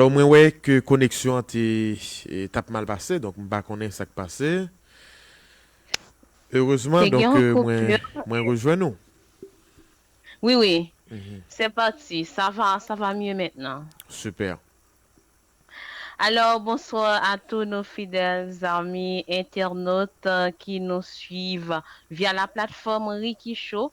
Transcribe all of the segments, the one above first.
Bon mwen wè ke koneksyon an te tap mal pase donk m pa konnen sak pase erezman donk mwen rejwenn ou. Wi wi se pati sa va sa va mye mentnan. Super. Alò bonsoir a tou nou fidèl zanmi entènot ki nou swiv via la platfòm Ricky Show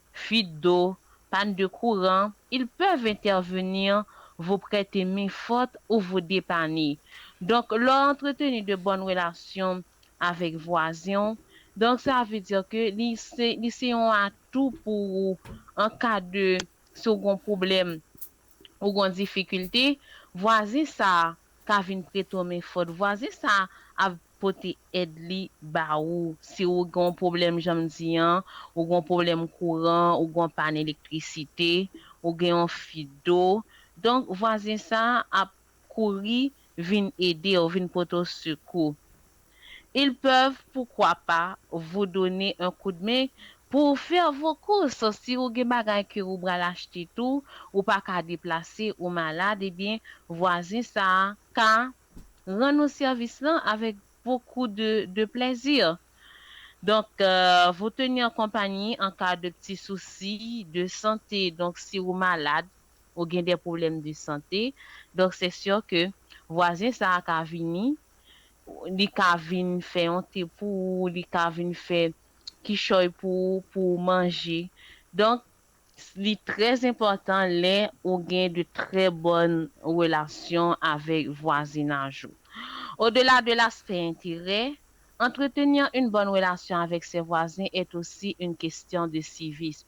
fuite d'eau, panne de courant, ils peuvent intervenir, vous prêter main forte ou vous depanner. Donc lè w antreteni de bonnes relations avèk vwazen w, donc sa vle dire ke li se li se yon atout pou ou en cas de si w gen yon problème ou gon difikilte, vwazin sa a ka vin prete w men fòt. Vwazin sa a ap pote èd li ba ou si ou gen yon pwoblèm jan m di an, ou gen yon pwoblèm kouran, ou gen yon pàn elektrisite, ou gen yon fit do. Donk, vwazin sa a ap kouri vin ede w, vin pote w sekou. Ils peuvent poukwa pa vous donner un coup de main pou w fè vos courses. Si ou gen bagay ke ou bral achte tou, ou pa ka deplase, ou malad, ebyen vwazen sa a ka rann ou sèvis lan avèk beaucoup de de plaisir. Donc, vous tenir compagnie en cas de p'ti souci de santé. Donc, si ou malad, ou gen de pwoblèm de sante, donk se sur ke vwazen sa a ka vini, li ka vin fè yon te pou ou, li ka vin fè kichòy pou ou, pou ou manje. Donk, li trè enpòtan lè ou gen de trè bòn relasyon avèk vwazinaj ou. Odela de l'aspect intérêt, entretenir une bonne relation avec ses voisins est aussi une question de civisme.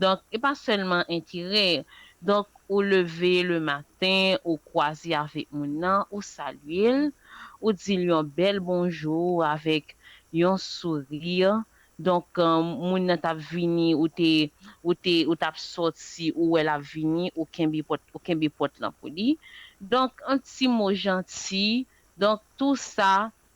Donk e pa sèlman enterè. Donk ou leve le maten, ou kwaze avèk moun nan, ou salye l, ou di l yon bèl bonjou avèk yon souri. Donk moun nan t ap vini, ou te, ou te, ou t ap sòti, ou wè l ap vini, ou kenbe pòt, ou kenbe pòt lan pou li. Donk yon ti mo janti. Donk tou sa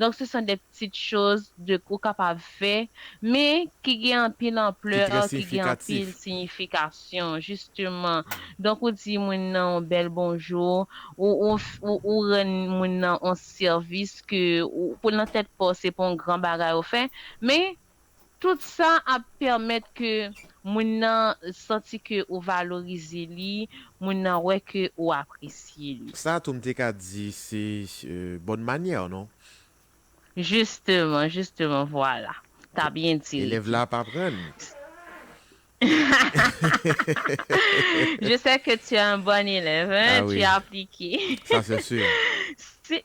Donk se san de ptit choz de ou kapab fè, men ki gen anpil Ki anpleur, trè ki gen siyifikatif. anpil siyifikasyon, jisteman. Donk ou di moun nan on bèl bonjour, ou ou f ou ou rann moun nan on sèvis ke ou pou nan tèt pa w se pa on gran bagay ou fè, men Tout sa ap pèmèt ke moun nan santi ke ou valorize li, moun nan wè ke ou apresye li. Sa a tou m te ka di se bonne manière non? Justement, justement, voilà. Ta byen di, Ricky. Elèv la ap aprann. Je sais que tu es un bon élève, hein, tu applique. Sa c'est sûr.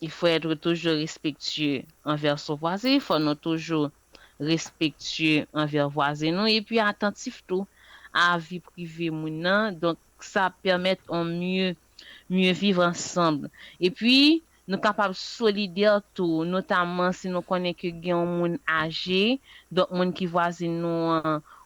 Il faut être toujours respectueux envers son voisin, fò nou toujou respectueux envers vwazen nou epi atantif tou a vi prive moun nan, donk sa ap pèmèt on mieux mieux vivre ensemble epi nou kapab solidaire tou notamment si nou konnen ke gen on moun âgé donk moun ki vwazin nou an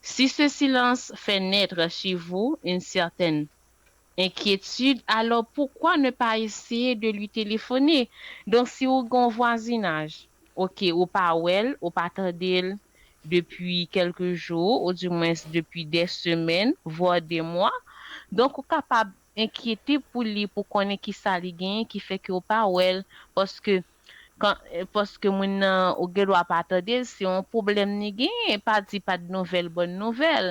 Si ce silans fait naitre chez vous une certaine inquiétude alors pourquoi ne pas essayer de lui téléphoner? Donc si ou gen yon vwazinaj ok ou pa wè l ou pa tande l depi kèlke jou ou di mwens depi dè semèn vwar dè mwa donk ou kapab enkyete pou li pou konnen kisa li genyen ki fè ke ou pa wè l paske Kan paske moun nan ou gen dwa pa tande l se yon pwoblèm li genyen pa di pa t nouvèl bòn nouvèl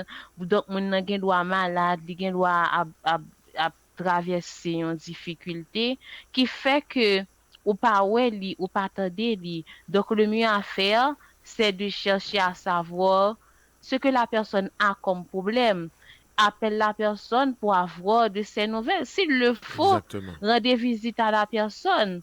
donk moun nan gen dwa malad li gen dwa ap ap ap travèse yon difikilte ki fè ke ou pa wè li ou pa tande li donk le mieux à faire c'est de chercher à savoir ce que la personne a comme problème appelle la personne pour avoir de ses nouvelles s'il le faut Exactement. rende visite à la personne.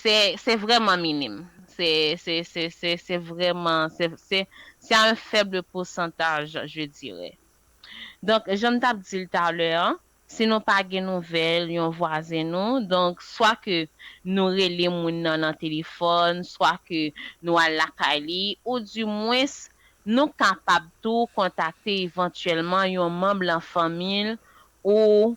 se se vrèman minim. Se se se se se vrèman se se se a un faible pourcentage je dirais. Donk jan m t ap di l talè an, si nou pa gen nouvèl yon vwazen nou, donk swa ke nou rele moun nan nan telefòn, swa ke nou al lakay li, ou di mwens nou kapab tou kontakte evantyèlman yon manm lan fanmi l ou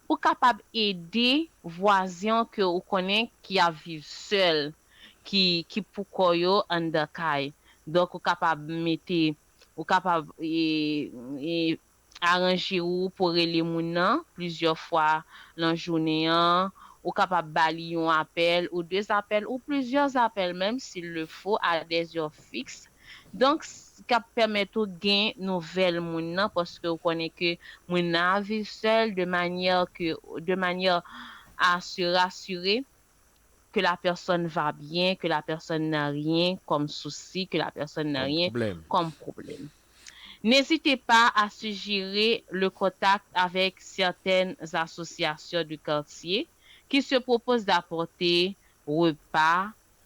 Ou kapab ede vwazen w ke ou konnen ki ap viv sèl, ki ki pou kò yo anndan kay. Donk ou kapab mete, ou kapab e aranje ou pou w rele moun nan plizyè fwa lan jounen an, ou kapab ba li yon apèl ou de zapèl ou plizyè zapèl menm s'il le faut a des heures fixes Donk s kap pèmèt ou gen nouvèl moun nan paske ou konnen ke moun nan ap viv sèl de manyè ke de manyè a se rasire ke la pèsòn va byen, ke la pèsòn nan ryen kòm sousi, ke la pèsòn nan ryen kòm pwoblèm. N'ezite pa a sijere le kontak avèk sètèn asosyasyon de kartye ki se pwopose dapòte repa,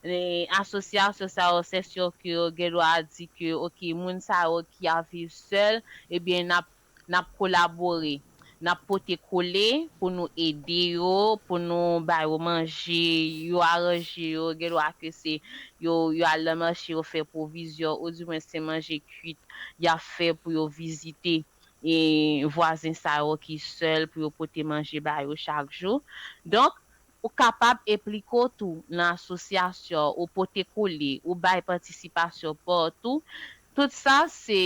Asosyasyon sa yo sè sè ke yo gen dwa di ke ok moun sa yo ki ap viv sèl ebyen nap nap kolabore nap pote kole pou nou ede yo pou nou ba yo manje yo aranje yo gen dwa ke se yo yo al nan mache yo fè pwovizyon ou di mwen se manje kwit yap fè pou yo vizite e vwazen sa yo ki sèl pou yo pote manje ba yo chak jou donk Ou kapab enplike w tou nan asosyasyon ou pote kole, ou bay patisipasyon pa w tou, tout sa se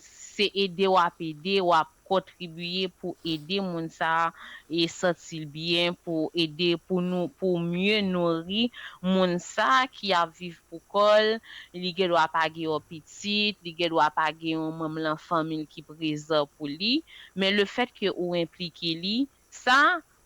se ede w ap ede, w ap kontribiye pou ede moun sa a santi l byen, pou ede pou nou pou w mye nouri moun sa a ki ap viv pou kò l, li gen dwa pa gen yon pitit, li gen dwa pa gen yon manm lan fanmi l ki prezan pou li, men lefètke ou enplike li, sa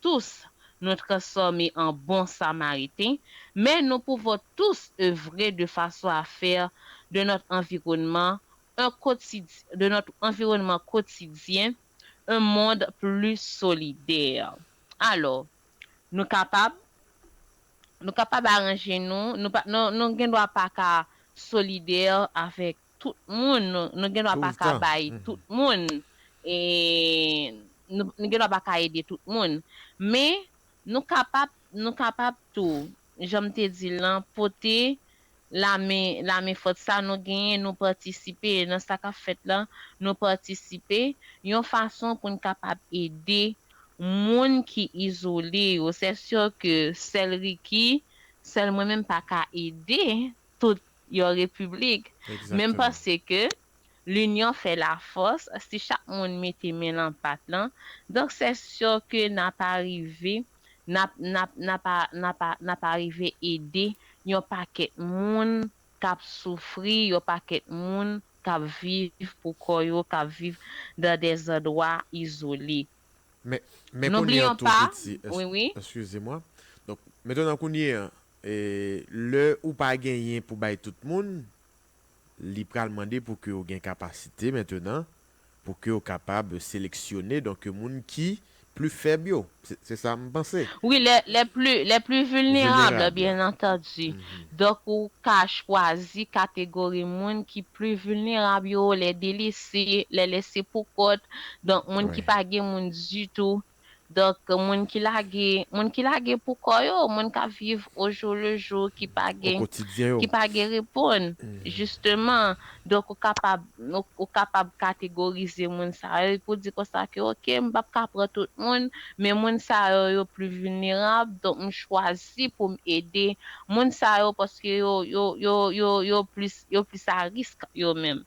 tous nou transfòme an bon samariten, men nou pouvo tous evre de fason a fè de nòt anviwònman en kotid de nòt anviwònman kotidyen en mond pli solidè. Alò, nou kapab, nou kapab aranje nou, nou pa, nou, nou gendwa pa ka solidè avèk. tout moun, nou gen dwa pa ka bay tout moun, nou gen dwa pa ka ede tout moun, men nou kapab, nou kapab tou, jan m te di l lan, pote lamen, lamen fòt sa nou genyen, nou patisipe nan sa k ap fèt lan, nou patisipe, yon fason pou n kapab ede moun ki izole yo, sè sè ke sèl Ricky, sèl mwen menm pa ka ede, tout yon repiblik, menm panse ke linyon fè la fòs, si chak moun mete men lan pat lan, donk sè sè ke na pa rive, na, na, na pa, na pa, na pa rive ede yon pakèt moun k'ap soufri, yon pakèt moun k'ap viv pou kò yo, k'ap viv dan dè zandwa izole. Men, men kounye an tou Piti, wi, wi. Eskize mwa. Donk, metè nan kounye an, E lè ou pa genyen pou bay tout moun, li pral mande pou ke ou gen kapasite mentenan, pou ke ou kapab seleksyone donk moun ki pli fèb yo. Se sa m panse. Wi, lè, lè pli, lè pli vilnerab, byen antandi. Donk ou ka chwazi kategori moun ki pli vilnerab yo, lè delese, lè lese pou kont, donk moun ki pa gen moun ditou. Donk, moun ki lage, moun ki lage pou kò yo, moun k ap viv o jou le jou, ki pa gen, ki pa gen reponn, jisteman. Donk, ou kapab, ou kapab kategorize moun sa yo epi w di konsa ke ok, m p ap ka pran tout moun, men moun sa yo, yo pli vilnerab, donk m chwazi pou m ede moun sa yo paske yo, yo, yo, yo, yo plis, yo plis a risk yo menm.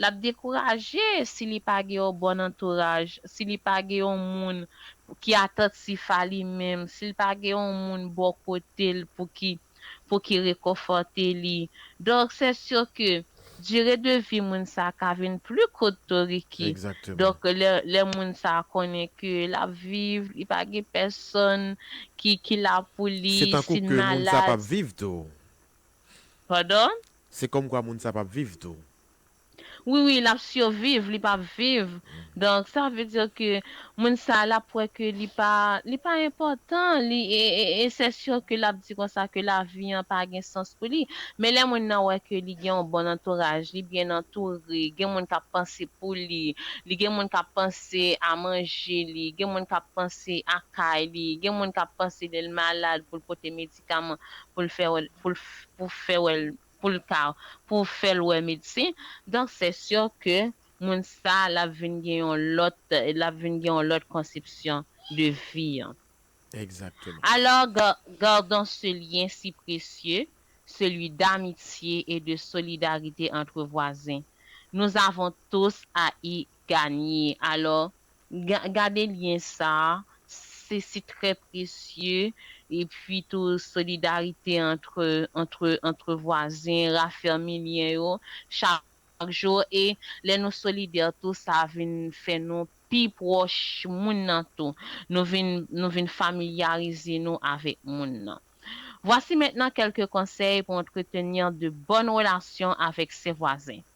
L ap dekouraje si li pa gen yon bon antouraj, si li pa gen yon moun ki atantif a li menm, si l pa gen yon moun bò kote l pou ki pou ki rekonfòte li. Donk, sè si ke dire de vi moun sa ka vin pli kout tou Ricky. Donk, lè lè moun sa konnen ke l ap viv, li pa gen pèsonn ki ki la pou li, si l malad. Se tankou ke moun sa p ap viv tou. Pardon? Se kòm kwa moun sa pap viv tou. Wi wi lap surviv li pap viv donk sa vle dire ke moun sa lap wè ke li pa li pa enpòtan li e sè sur ke lap di konsa ke lavi an pa gen sans pou li men lè moun nan wè ke li gen yon bon antouraj li byen antoure gen moun kap panse pou li li gen moun kap panse a manje li gen moun kap panse a kay li gen moun kap panse lèl malad poul pote medikaman pou l fè wè pou l pou fè wè l pou l ka pou fè l wè medsen donk sè sè ke moun sa l ap vin gen yon lòt l ap vin gen yon lòt konsepsyon de vi an Exactement. Alors ga gardons ce lien si précieux, celui d'amitié et de solidarité entre voisins. Nous avons tous à y ganye alò gade lyen sa se si trè presye epi tou solidarite antre antre antre vwazen rafèmi lyen yo chak jou e lè nou solidè tou sa vin fè nou pi pwòch moun nan tou nou vin nou vin familyarize nou avèk moun nan vwasi mentnan kèlke konsèy pou entretenir de bòn relasyon avèk se vwazen.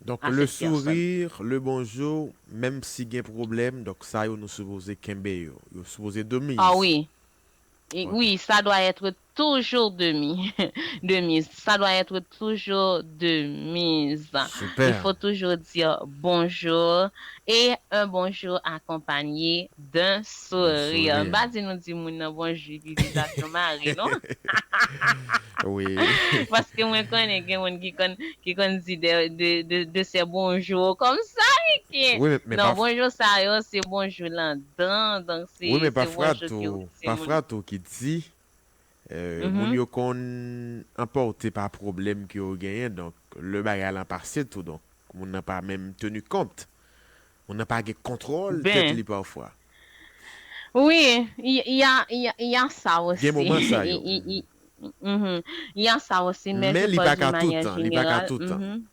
Donk le sourire, le bonjour, menm si gen pwoblèm, donk sa yo nou sipoze kenbe yo. Yo sipoze de mise. Oh oui. Oui, ça doit être toujours de de mise. Ça doit être toujours de mise. Super. Il faut toujours dire bonjour et un bonjour accompagné. D'un sourire. M pa di nou di moun nan bonjou epi vizaj nou mare non. Paske mwen konnen gen moun ki konn di de sè bonjou komsa Ricky. Non bonjou sa yo se bonjou lan dan donk se bonjou ki ou di moun. Pafwa tou ki di moun yo konn anpòte pa pwoblèm ke yo genyen donk lè bagay lan pase tou donk moun nan pa menm tenu kont. Moun nan pa gen kontwòl tèt li pafwa. Wi, y a sa osi. Gen moman sa yo. Y a sa osi, men je pòs di manyè jeneral. Men li pa ka toutan.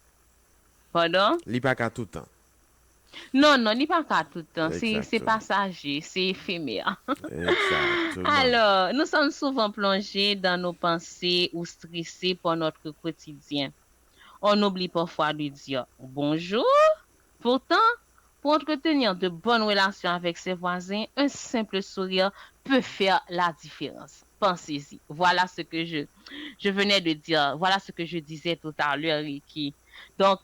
Padon? Li pa ka toutan. Non, non, li pa ka toutan. Se pasaje, se efemè. Ekzakteman. Alò, nou sòm souvan plonje dan nou panse ou strese pò notre quotidien. On oubli pafwa de dire bonjour. Pourtant, pou entretenir de bonnes relations avec ses voisins, un simple sourire peut faire la différence. Pensez-y. Voilà ce que je, je venais de dire, voilà ce que je disais tout à l'heure, Ricky. Donc,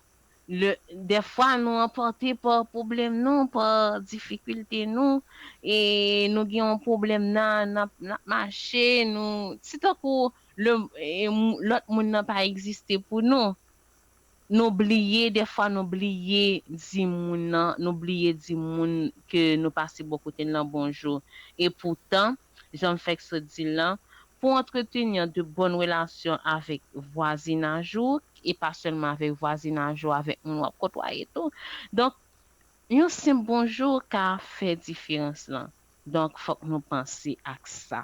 le, des fois nou emporte par problème nou, par difficulté nou, e nou gen yon problème na, nap, nap mache, nou, se tankou le, e, lòt moun nan pa existe pou nou. Nou bliye dèfwa nou bliye di moun nan nou bliye di moun ke nou pase bò kote l lan bonjou e poutan jan m fèk sot di l lan pou antretenir de bòn relasyon avèk vwazinaj ou e pa sèlman avèk vwazinaj ou avèk moun w ap kotwaye tou donk yon senp bonjou ka fè diferans lan donk fòk nou panse ak sa.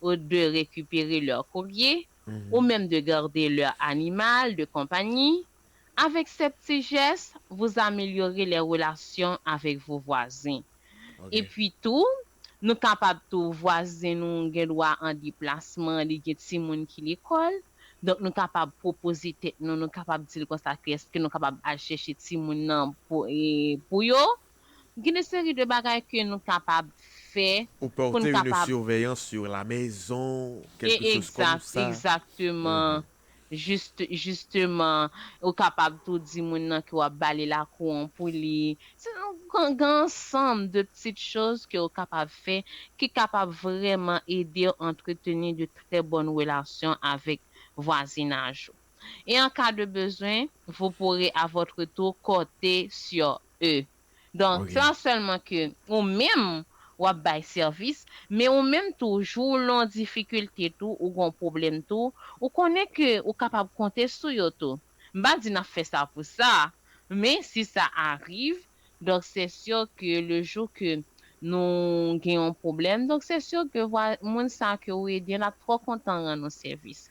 ou de rekipere lè korye, ou menm de garde lè animal de konpanyi, avèk sè pti jès, vous amelyore lè relasyon avèk vos vwazen. E pwi tou, nou kapab tou vwazen nou gen dwa an deplasman, li gen ti moun ki lekòl, donk nou kapab pwopoze tèt nou, nou kapab di l konsa ke èske nou kapab al chèche ti moun nan pou yo. Gen de seri de bagay ke nou kapab fè Ou pou n porter une kapab. surveillance sur la maison, E quelque chose comme egzat, ça. egzakteman, Mhm. jist, jisteman, ou kapab tou di moun nan ke w ap ba li lakou an pou li. Se yon gran, gen ansanm de petites choses ke ou kapab fè ki kapab vrèman ede w antreteni de trè bòn relasyon avèk vwazinaj ou. e an ka de bezwen vous pourrez à votre tour corter sur eux donk se an sèlman ke ou menm wap bay sèvis men ou menm tou jou ou lon difikilte tou ou gon pwoblèm tou ou konnen ke ou kapab konte sou yo tou m pa di nap fè sa pou sa men si sa ariv donk se sur ke le jou ke nou gen yon pwoblèm donk se sur ke vwa moun sa ke ou ede lap trò kontan rann ou sèvis.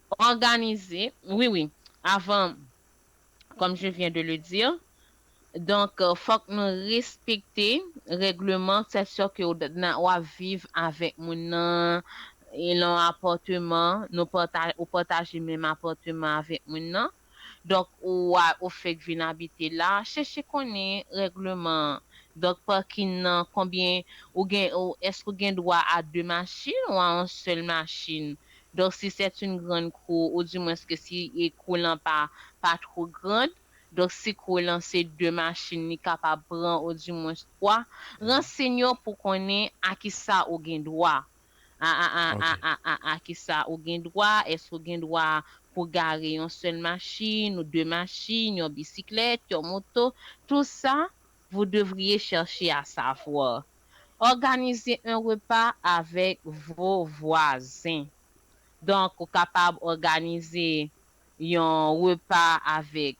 Òganize, wi wi, avan kòm je vyen de le dir, donk fòk nou respekte règleman sè sè ke w ap viv avèk moun nan lan apòteman, nou pataje, ou pataje menm apòteman avèk moun nan. donk ou wa ou fek vin abite la cheche konnen regleman donk parking nan konbyen ou gen ou eske ou gen dwa a 2 machin ou a on sel machin donk si set yn grand kou ou di mwens ke si e kou lan pa pa two grand donk si kou lan se 2 machin li kapab pran ou di mwens 3 ransegne w pou konnen a kisa ou gen dwa A a a a a a a kisa ou gen dwa, èske ou gen dwa pou gare yon sèl machin ou de machin, yon bisiklèt, yon moto, tout sa, vous devriez chercher à savoir. Organiser un repas avec vos voisins. Donk ou kapab òganize yon repa avèk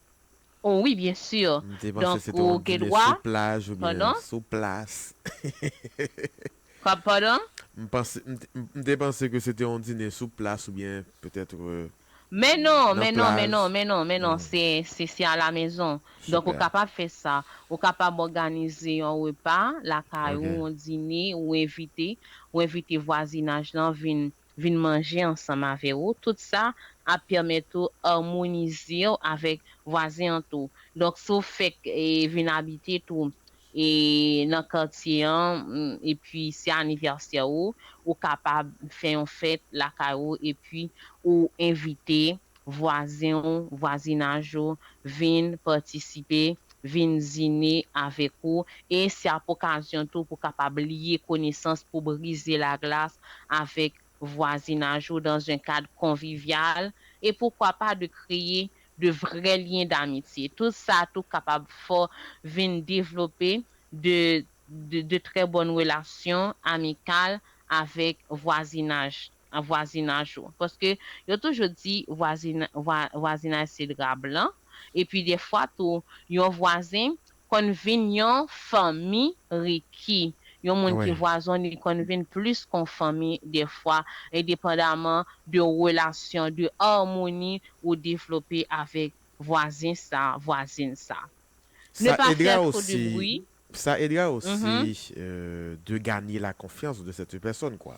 Oh wi byen sur M te panse donk se te ou yon dine gedwa sou plaj oubyen pandan. sou plas. Kòb pandan. M panse m te m te panse ke se te yon dine sou plas oubyen petètre Men non nan men non men plaj. non men non men non se se se a la mezon donk ou Super. kapab fè sa ou kapab òganize yon repa lakay Ok. ou yon dine ou envite ou envite vwazinaj lan vin vin manje ansanm avè ou, tout sa ap pèmèt ou armonize w avèk vwazen an tou. Donk si w fèk vin abite tou nan katye an epi se anivèsè ou, ou kapab fè yon fèt lakay ou epi ou envite vwazen ou, vwazinaj ou, vin patisipe, vin zine avèk ou, e se ap okazyon tou pou kapab liye konesans pou brize laglas avèk vwazinaj ou dans un kad konvivyal, e poukwa pa de kreye de vrè lyen damitye. Tout sa tou kapab fè w vin devlope de de trè bòn relasyon amikal avèk vwazinaj. nan vwazinaj ou paske yo toujou di vwazinaj se dra blan epi defwa tou yon vwazen konn vin yon fanmi riki yon moun ki vwazon li konn vin plis kon fanmi defwa endepandaman de relasyon de armoni ou devlope avèk vwazen sa vwazin sa ne pa fè two de bri. Sa edra osi de ganye la konfyans de sete pèsòn kwa.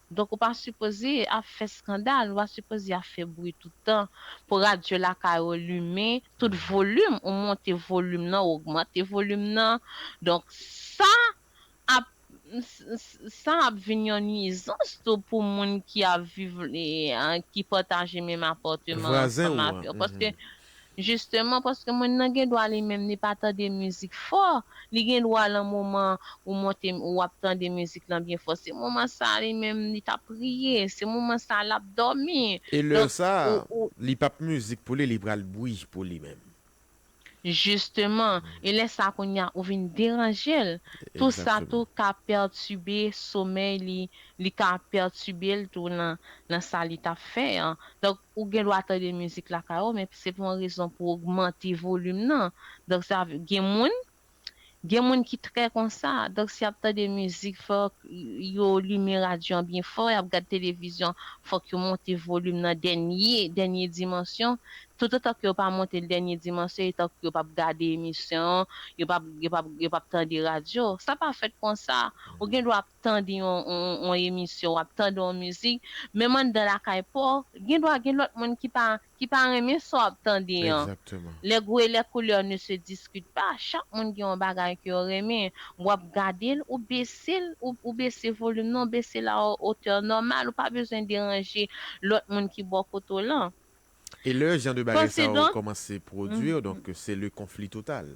Donk ou pa sipoze ap fè skandal, ou pa sipoze ap fè bri tout tan pou radyo lakay ou limen tout volim, ou monte volim nan, ou ogmante volim nan. Donk sa ap sa ap vin yon nwizans tou pou moun ki ap viv, ki pataje menm apàteman ansanm avè w. Paske Jisteman paske moun nan gen dwa li menm li pa tande mizik fò, li gen dwa lan moman ou monte ou ap tande mizik lan byen fò se moman sa a li menm li ta priye, se moman sa a l ap dòmi. E lè Donk sa a, ou ou. li p ap mizik pou li, li pral bwi pou li menm. Jisteman, e lè sa a kounye a ou vin deranje l, tou sa Egzakteman. tou ka pètibe somèy li, li ka pètibe l tou lan lan sa li t ap fè an. Donk Ou gen dwa tande mizik lakay ou men se pou yon rezon pou ogmante volim nan. Donk sa vle, gen moun, gen moun ki trè konsa. Donk si y ap tande mizik fòk yo limen radyo an byen fò, y ap gad televizyon fòk yo monte volim nan dènye, dènye dimansyon. Toutotan ke yo pa monte l dènye dimansyon e tankou yo p ap gade emisyon, yo p ap, yo p ap, yo p ap tande radyo. Sa pa fèt konsa. Ou gen dwa ap. tande yon emisyon, w ap tande yon mizik, menm anndan lakay pa w, gen dwa gen lòt moun ki pa ki pa renmen sa w ap tande an. Les goûts et les couleurs ne se discutent pas, chak moun gen yon bagay ke yo renmen, w ap gade l, ou bese l, ou bese volim nan, ou bese l a hauteur normale, ou pa bezwen deranje lòt moun ki bò kote w lan. E lè jan de bagay sa yo kòmanse pwodui, donk se le conflit total.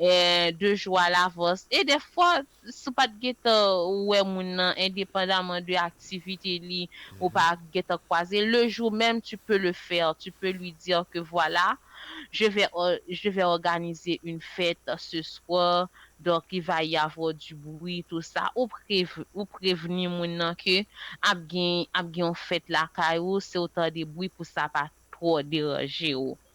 de jou a lavans e dèfwa si w pat gentan wè moun nan endepandaman de aktivite li ou pa gentan kwaze l le jour même tu peux le faire tu peux lui dire que voilà je vais je vais organiser une fête ce soir donc il va y avoir du bruit tout ça ou ou prevni moun nan ke ap gen ap gen yon fèt lakay ou si w tande bwi pou sa pa twò deranje w.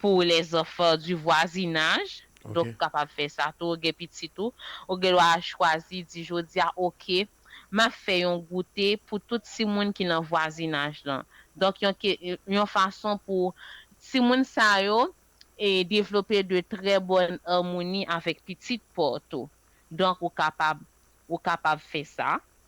pou les enfants du voisinage, donk ou kapab fè sa tou, ou gen pitit ou, ou gen dwa chwazi di jodi a ok m ap fè yon goute pou tout timoun ki nan vwazinaj lan, donk yon ke yon fason pou timoun sa yo e devlope de trè bòn amoni avèk pitit pa w tou, donk ou kapab ou kapab fè sa.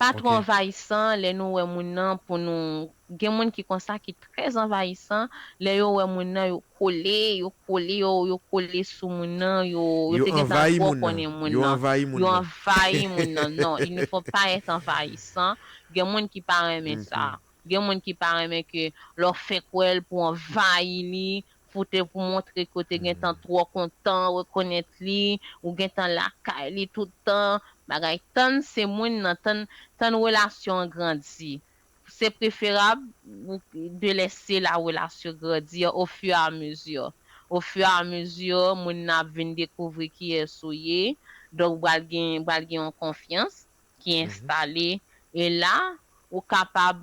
Pa twò anvayisan lè nou wè moun nan pou nou gen moun ki konsa ki trè anvayisan lè yo wè moun nan yo kole yo kole yo yo kole sou moun nan yo yo te gentan twò konnen moun nan yo anvayi moun nan non il ne faut pas être envahissant gen moun ki pa renmen sa gen moun ki pa renmen ke lè w fenk wè l pou w anvayi li pou te pou montre ke w te gentan twò kontan rekonèt li, ou gentan lakay li tout tan, bagay tann se mouin nan, tann tann relasyon an grandi. Se preferab ou de lèse la relasyon grandir au fur et à mesure. Au fur et à mesure mouin nan ap vin dekouvri kiyès ou ye, donk bal gen bal gen yon konfyans ki enstale e la ou kapab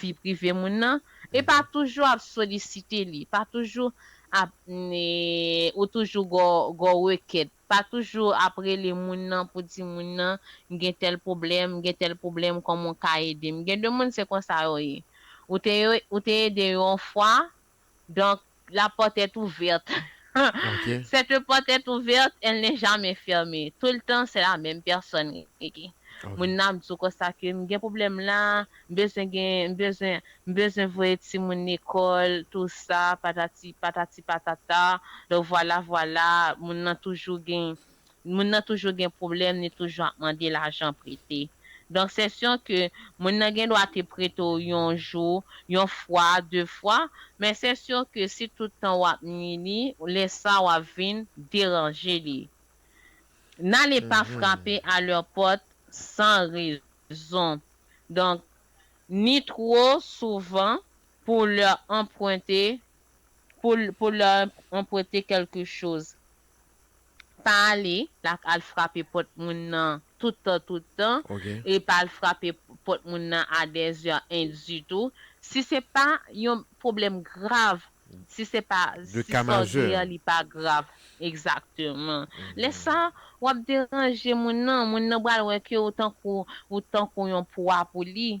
vi prive moun nan e pa toujou ap solisite li, pa toujou ap ou toujou gwo rekèt, pa toujou ap rele moun nan pou di moun nan m gen tèl pwoblèm, m gen tèl pwoblèm kòman w ka ede m. Gen de moun se konsa yo ye. Ou te ede yo yon fwa, Donc, la porte est ouverte. Cette porte est ouverte, elle n'est jamais fermée. Tout le temps, c'est la même personne, Ricky. Moun nan ap di w konsa ke m gen pwoblèm la, m bezwen gen, m bezwen, m bezwen voye timoun lekòl, tou sa, patati, patati patata. Donk, vwala vwala, moun nan toujou gen, Moun nan toujou gen pwoblèm, li toujou ap mande lajan prete. Donk sè syon ke moun nan gen dwa te prete w yon jou, yon fwa, de fwa, men sè syon ke si tout tan w ap nwi li, lè sa w ap vin deranje li. N'ale pa frape a lèr pòt san rezon. Donk, ni two souvan pou lèr anprente, pou lèr anprete kèlke choz. pa ale lak al frape pòt moun nan tout tan tout tan Ok. e pa al frape pòt moun nan a dèzè en ditou si se pa yon pwoblèm grav si se pa De si ka sa w majè. gen an li pa grav egzakteman lè sa w ap deranje moun nan moun nan pral wè ke w tankou w tankou yon pwa pou li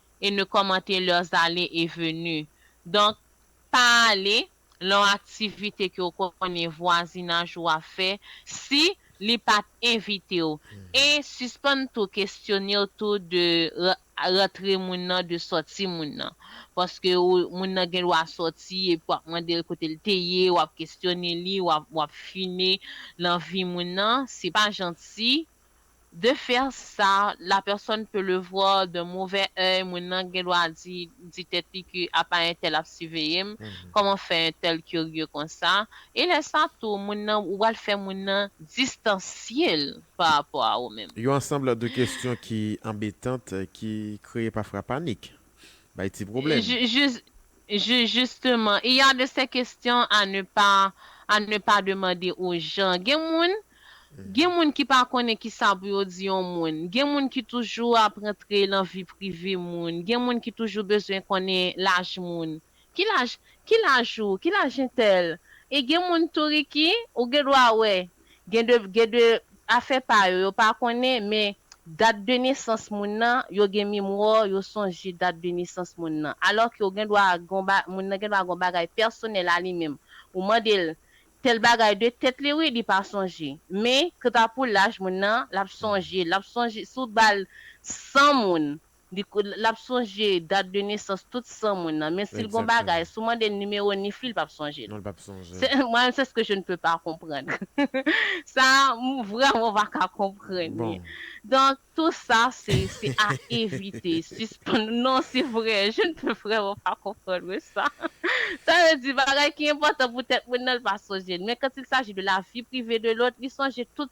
et ne commenter leurs allez et venu donk pa ale lan aktivite ke w konnen vwazinaj ou ap fè si li pat envite w e sispann tou kestyone w tou de rantre moun nan de sòti moun nan paske moun nan gen dwa sòti epi wap mande l kote l te ye wap kestyone li wap fine lan vi moun nan se pa janti De faire ça, la personne peut le voir d'un mauvais oeil, moun nan gen dwa di di tèt li ke apa entèl ap siveye m, kòman fè entèl kirye konsa? E lè sa tou, moun nan, ou pral fè moun nan distansye l pa rapò a ou menm. Yon ansanble de kesyon ki anbetant ki kreye pafra panik, bay ti pwoblèm. Jis, Juge, Justement, il y a de ces questions à ne pas à ne pas demander aux gens. Gen moun, gen moun ki pa konnen kisa pou yo di yon moun. Gen moun ki toujou ap rantre lan vi prive moun. Gen moun ki toujou bezwen konnen laj moun. Ki laj, ki laj ou? Ki laj entèl? E gen moun tou Ricky, ou gen dwa wè, Gen de gen de afè pa yo yo pa konnen men dat de nesans moun nan yo gen memwa yo sonje dat de nesans moun nan alò ke ou gen dwa gon ba moun nan gen dwa gon bagay pèsonèl a li menm ou mande l tèl bagay de tèt li wi li pa sonje men kanta pou laj moun nan l ap sonje l ap sonje si w t ba l 100 moun Lap sonje dat de nesans tout san moun nan men sil gon bagay sou mandel nimewo nif li li pap sonjel mwen menm se ske je ne peux pas konprann sa m vreman pa ka konprann li donk tou sa se se a evite sispann non se vre je ne peux vreman pa konprann mwen sa sa vle di bagay ki enpòtan pou tèt moun nan li pa sonjel men quand il s'agit de la vie privée de l'autre li sonje tout.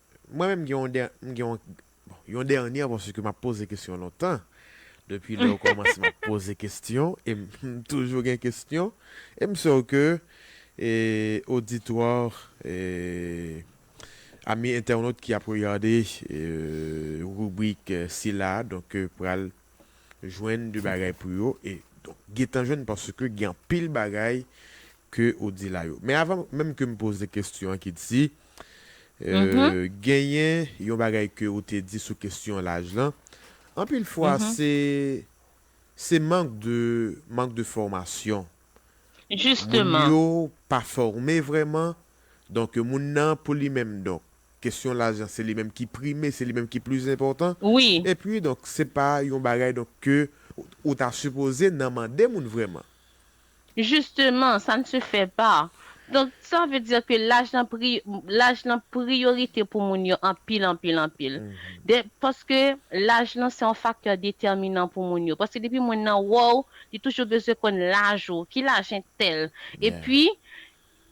Mwen menm m gen yon dènyè, m gen yon, bon, yon dènyè paske m ap poze kesyon lontan. Depi lè ou kòmanse m ap poze kesyon e m toujou gen kesyon e m sèw ke e oditwa e ami entènot ki ap regade e ribrik sila a donk pral jwenn de bagay pou yo e donk gentan jwenn paske gen anpil bagay ke ou di la yo. Men avan menm ke m poze kestyon an ki di, genyen yon bagay ke ou te di sou kestyon laj lan, anpil fwa se, se mank de, mank de fòmasyon. Jisteman. Moun yo pa fòme vrèman, donk moun nan pou li menm donk, kestyon laj lan se li menm ki prime, se li menm ki plis enpòtan. Wi. E pi donk se pa yon bagay donk ke ou ta sipoze nan mande moun vrèman. Justement, ça ne se fait pas. Donc, ça veut dire que laj lan pri, laj lan priorité pou moun yo anpil, anpil, anpil. Dè, paske laj lan se yon facteur déterminant pou moun yo. Paske depi moun nan wè w, li toujou bezwen konn laj ou, ki laj entèl. E pi,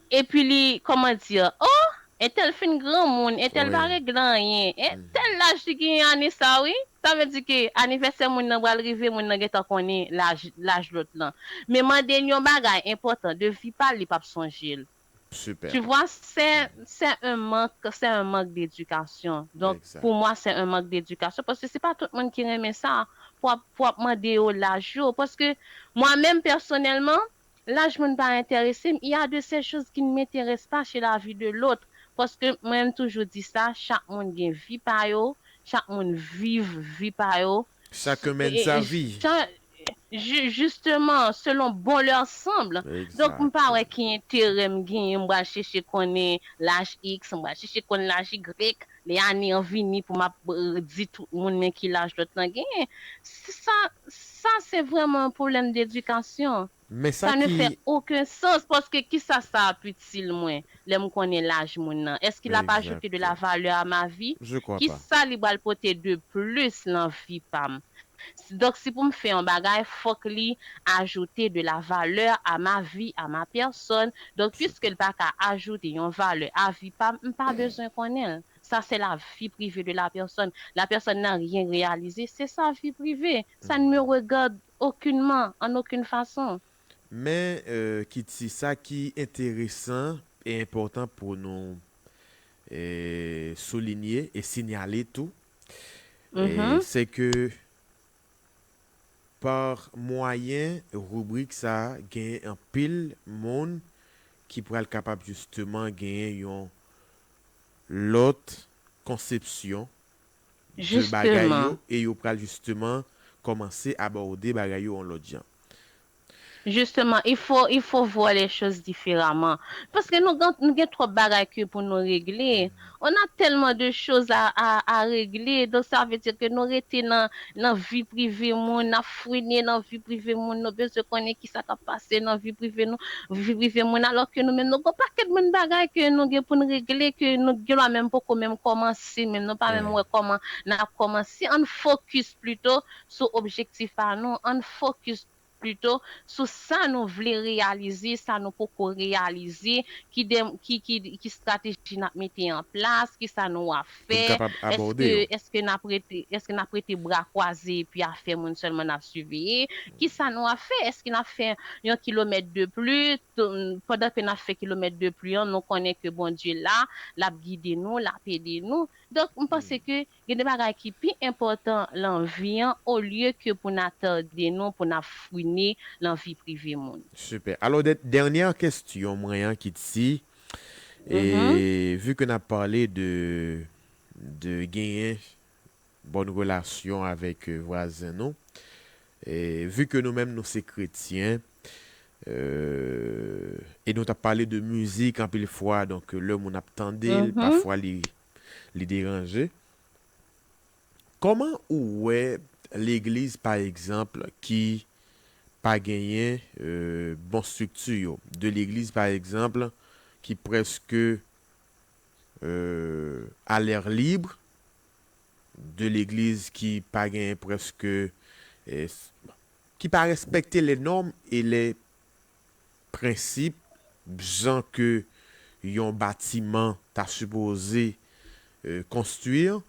Epi li kòman dir, oh! Entèl fin granmoun, entèl pa regle anyen, eh! Tèl laj li genyen ane sa wi. Sa vle di ke anivèsè moun nan pral rive, moun nan gentan konnen laj, laj lòt lan. Men mande l yon bagay enpòtan, de vi pa l, li p ap sonje l. Super. Tu vois, sè, sè un mank, sè un mank d'edikasyon. Donk, pou mwa sè un mank d'edikasyon, paske se pa tout moun ki renmen sa, pou w ap, pou w ap mande yo laj yo. Paske, mwa menm pèsonèlman, Laj moun pa enterese m, il ya de sè choz ki n menterès pa chez la vi de lotr, paske mwen m toujou di sa, chak moun gen vi pa yo, chak moun viv vi pa yo, Chacun mène sa vie. chan ju justeman selon bon leur sanbl, donk m pa wè ki enterè m genyen m pral cheche konnen laj iks, m pral cheche konn laj igrek, Lè ane an vini pou map di tout moun men ki laj lòt lan genyen. Sa sa se vrèman yon pwoblèm dedikasyon. Men sa Sa ne ki. fè oken sans paske kisa sa ap itil mwen lè m konnen laj moun nan? Èske l ap ajoute de la Exacto. valeur à ma vie? Je crois pas. Kisa li pral pote de plis lan vi pa m? Donk si pou m fè yon bagay fòk li ajoute de la valeur à ma vie, à ma personne, donk puisque l pa ka ajoute yon valè a vi pa m, m pa bezwen konnen l. Sa se la vie privée de la personne. La personne n'a rien réalisé, c'est sa vie privée. Sa ne me regarde aucunement, en aucune façon. Men Kiti, sa ki enteresan e enpòtan pou nou soulinye e sinyale tou, E se ke pa mwayen ribrik sa genyen anpil moun ki pral kapab jisteman genyen yon lòt konsepsyon de bagay yo e yo pral jisteman kòmanse abòde bagay yo yon lòt jan. Justement il faut il faut voir les choses différemment paske nou gan nou gen trop bagay ke pou nou regle on a tellement de choses à à à regle donc ça veut dire ke nou rete nan nan vi prive moun nap frene nan vi prive moun nou bezwen konnen kisa kap pase nan vi prive nou vi prive moun alors ke nou menm nou gon pakèt moun bagay ke nou gen poun regle ke nou gen lwa menm poko menm komanse menm nou pa menm wè koman nap komanse ann focus plutot sou objektif pa nou, ann fokis pito sou sa nou vle reyalize, sa nou poko reyalize, ki de, ki, ki, ki strateji n ap mete an plas, ki sa nou ap Pou n fè, kapab abòde èske, yo. èske n ap rete, èske n ap rete bra kwaze epi afè moun sèlman n ap siveye, ki sa nou ap fè, èske n ap fè yon kilomèt de pli, t, pandan ke n ap fè kilomèt de pli an nou konnen ke Bondye la, l ap gide nou, l ap ede nou. Donk m panse ke Gen de bagay ki pi enpòtan lan vi an olye ke pou n atède nou pou n ap fouine lan vi prive moun. Super. Alò dè dènyè kestyon mwen an ki t si e vu ke n ap pale de de genyen bòn relasyon avèk vwazen nou e vu ke nou menm nou se kretyen e nou t ap pale de mizik anpil fwa donk lè moun ap tande l pafwa li Li deranje? Koman ou wè legliz pa egzanp ki pa genyen bon strikti yo, de legliz pa egzanp ki preske a l'air libre, de legliz ki pa genyen preske, ki pa respekte les normes et les. prensip bzan ke yon batiman ta sipoze konstwir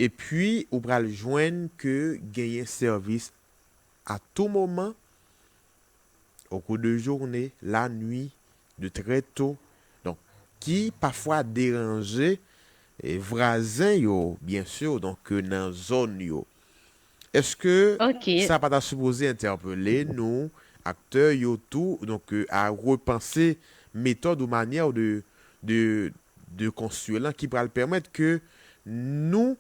epi ou pral jwenn ke genyen sèvis a tou moman okou de journe, la nwi, de trè to donk ki pafwa deranje vwazen yo byen sur donk nan zòn yo. Eske Ok. sa pa ta sipoze entèpele nou aktè yo tou donk a repanse metòd ou manyè ou de de de konstwi lan ki pral pèmèt ke nou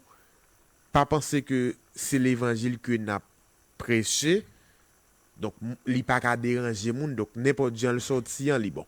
pa panse ke se levanjil ke n ap preche donk li pa ka deranje moun donk nenpòt jan l sòti an li bon?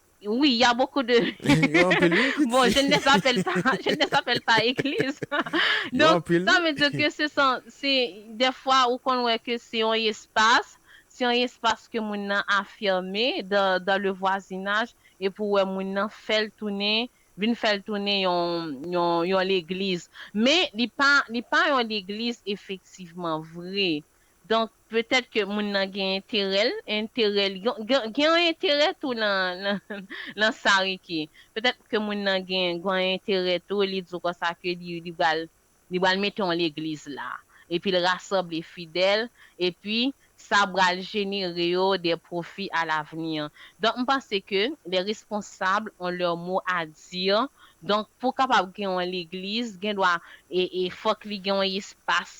Oui ya bokou de bon je ne sapèl pa je ne sapèl pa egliz donk sa vle di ke se san se dèfwa ou konn wè ke se yon espas se yon espas ke moun nan afime dan dan le vwazinaj epi ou wè moun nan fèl tounen vin fèl tounen yon yon yon legliz men li pa li pa yon legliz efektivman vre donk Petèt ke moun nan gen enterè l, enterè l, gen yon enterè tou nan sa Ricky. Petèt ke moun nan gen yon enterè tou, li di w konsa ke li pral, li pral mete yon legliz la. Epi l rasanble fidèl, epi sa pral jenere yo de pwofi a lavni. Donk m panse ke les responsables ont leur mot à dire, donk pou kapab gen yon legliz, gen dwa, e fòk li gen yon espas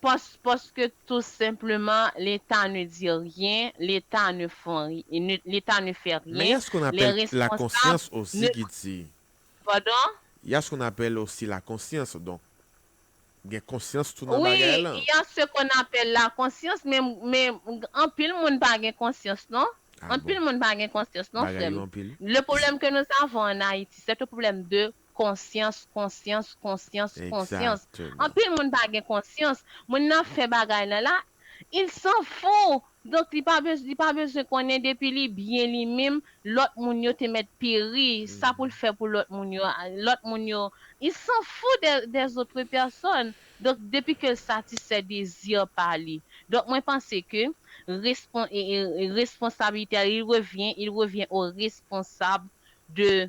Pos paske tou senpleman leta ne di rien leta ne fon leta ne fè Men rien ya s qu'on lè appelle la responsab conscience osi ne ki di Pardon? Ya s qu'on appelle osi la conscience donk gen konsyans tou nan Wi bagay lan. ya s ce qu'on appelle la conscience men men anpil moun pa gen konsyans non Ah bon anpil moun pa gen konsyans non bagay frè yo m anpil. le problème que nous avons en Haïti c'est un problème de Konsyans, konsyans, konsyans, konsyans. Exactement. Anpil moun pa gen konsyans. Moun nan fè bagay nan la, il s'en fou! Donk li pa bez, li pa bezwen konnen depi li byen li minm, lòt moun yo te mèt peri, sa pou l fè pou lòt moun yo, lòt moun yo, il s'en fou des, des autres personnes! Donk depi ke l satisfè dezi pa li. Donk mwen panse ke respon, responsabilite a, il revient, il revient au responsable de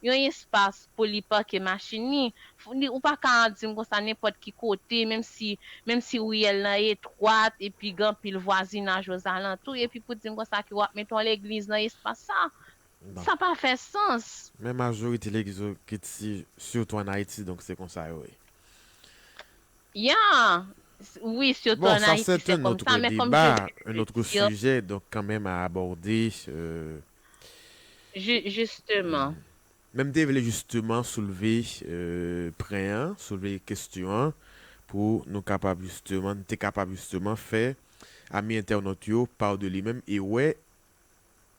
yon espas pou li pake machin li, li ou pa ka di m konsa nenpòt ki kote menm si menm si riyèl lan etwat epi gen anpil vwazinaj ozalantou epi pou di m konsa ke w ap mete yon legliz nan espas sa sa pa fè sans. Men majorite legliz yo kit si sitou an Ayiti donk se konsa yo ye. Ya, wi sitou an Ayiti se kòm sa men kòm je vyen de dir. Bon sa sè un autre sujet un autre sujet donk kanmenm a abòde. Jisteman. Men m te vle jisteman soulve pren an, soulve kestyon an pou nou kapab jisteman, n te kapab jisteman fè ami entènot yo pa w de li menm e wè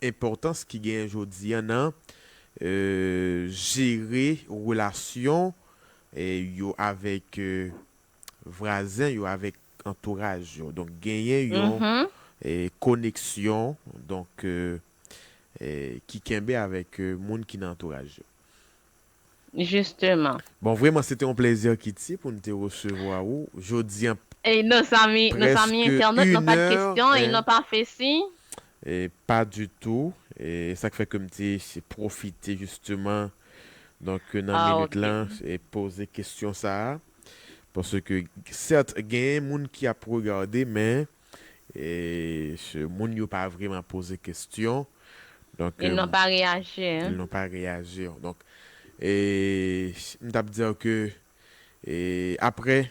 enpòtans ki genyen jodi an nan jere relasyon yo avèk Vwazen yo avèk antouraj yo. Donk genyen yon koneksyon donk ki kenbe avèk moun ki nan antouraj yo. Jisteman. Bon vreman se te yon plezi Kiti pou n te resevwa ou jodi an. Ey non zanmi, non zanmi entènot non pa de kesyon ey non pa fè si. Pa ditou, e sa k fè ke m te pwofite jisteman donk nan minit lan poze kesyon sa a. Paske certes gen moun ki ap regarde men ce moun yo pa vreman poze kestyon donk Ils n'ont pas reagir. Ils n'ont pas reagir donk m tap dire ke aprè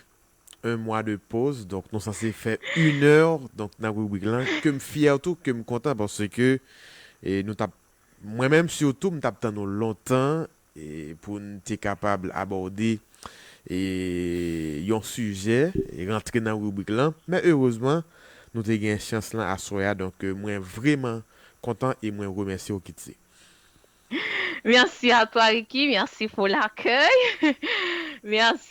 un mwa de poz donk nou sanse fè une heure donk nan ribrik lan ke m fière tou ke m kontan paske nou tap mwen menm surtout m tap tann nou lontan pou n te kapab abòde yon sijè, rantre nan ribrik lan, men erezman nou te gen chans lan aswè a, donk mwen vreman kontan e mwen remèsye w Kitsy. Merci à toi Ricky, merci pour l'accueil. Merci.